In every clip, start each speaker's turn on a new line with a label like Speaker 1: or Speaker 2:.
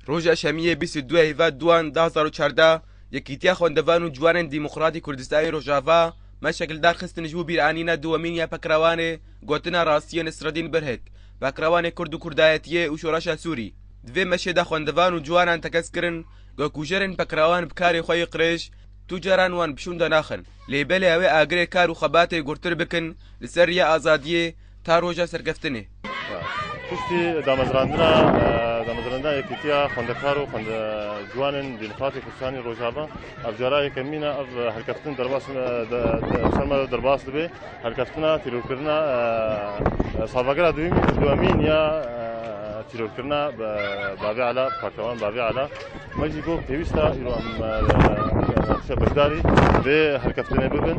Speaker 1: Roja Şemiyê bîst û du Heyva Duan du hezar û çardeh Yekîtiya Xwendevan û Ciwanên Dîmokratîk Kurdistanê Rojava me şekildar xistin ji bo bîranîna dûwemîn ya Pekrawanê Gotina Rastiyê Nesreddîn Birhik, Pekrawanê Kurd û Kurdayetiyê û Şoreşa Sûrî. Di vê meşê de xwendevan û ciwanan tekez kirin ku kujerên pekrawan bi karê xwe yê qirêj tu caran wan bi şûnde naxin lê belê ew ê agirê kar û xebatê gurtir bikin li ser riya azadiyê Ta roja serkeftinê. Piştî
Speaker 2: damezrandina damezrandina Yekîtiya Xwendekar û Xwende Ciwanên di Nixatê Kurdistanê Rojava ev cara yekemîn e ev herkeftin derbas serma derbas dibe herkeftina tîrorkirina salvegera duyemîn û duemîn ya tîrorkirina Bavê Ala Partewan Bavê Ala me jî got pêwîsta îro em beşdarî vê herkeftinê bibin.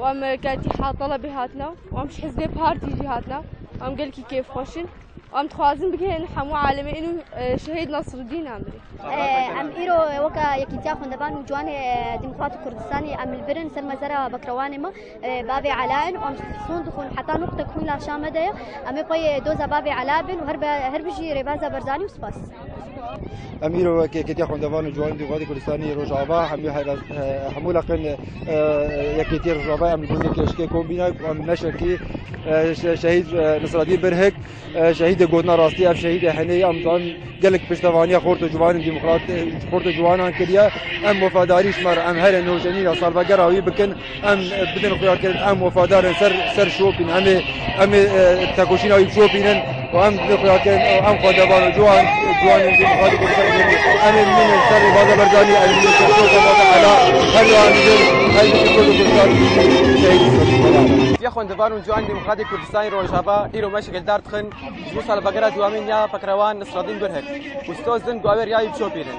Speaker 3: Wan gelkî hatala bê hatina wan ji hizbê partî jî hatina wan gelkî kêfxweş in wan dixwazin bigihînin hemû alemê ênû şehîd Nasrudîn em birî. Em îro
Speaker 4: weke Yekîtiya Xwendevan û Ciwanê Demokrat û Kurdistanê em li vir in ser mezera bekrewanê me bavê Ela in wan son dixwin heta nû qute ku hûn laşa me de ye em ê pey doza bavê Ela bin û herbijî Rêbaza Barzanî û spas. Em
Speaker 5: îro wek Yekêtiya Xwendevan û Ciwanên Dûvadê Kurdistanê yê Rojava hemû hemû leqên Yekêtiyê Rojava em li gund û keşkê kom bîne ku em neşekî şehîd Nisradîn Birhik şehîdê gotina rastî ev şehîdê henêyî em dan gelek piştevaniya xort û ciwanên demokrat xort û ciwanan kiriye em wefadarî ji me re em herê nûjenîna salvegera wî bikin Em bidin xuya kirin em wefadar in ser ser şopîn em ê em ê tekoşîna wî şopîn in û em bidin xuya kirin em xwedevan û ciwan ciwanên jin xwedî bûn ser em ê bidin ser rêvaza berdanî em ê ser şopa vaza hela her wihan jin her jin kurd û kurdan şehîd Ya xwendevan û
Speaker 1: ciwan Demokratîk Kurdistanê Rojava îro me şikildar dixin ji bo salvegera dûyamîn ya Feqrewan Nisradîn Gurhik û sê ozdin ku ew ê riya wî bişopînin.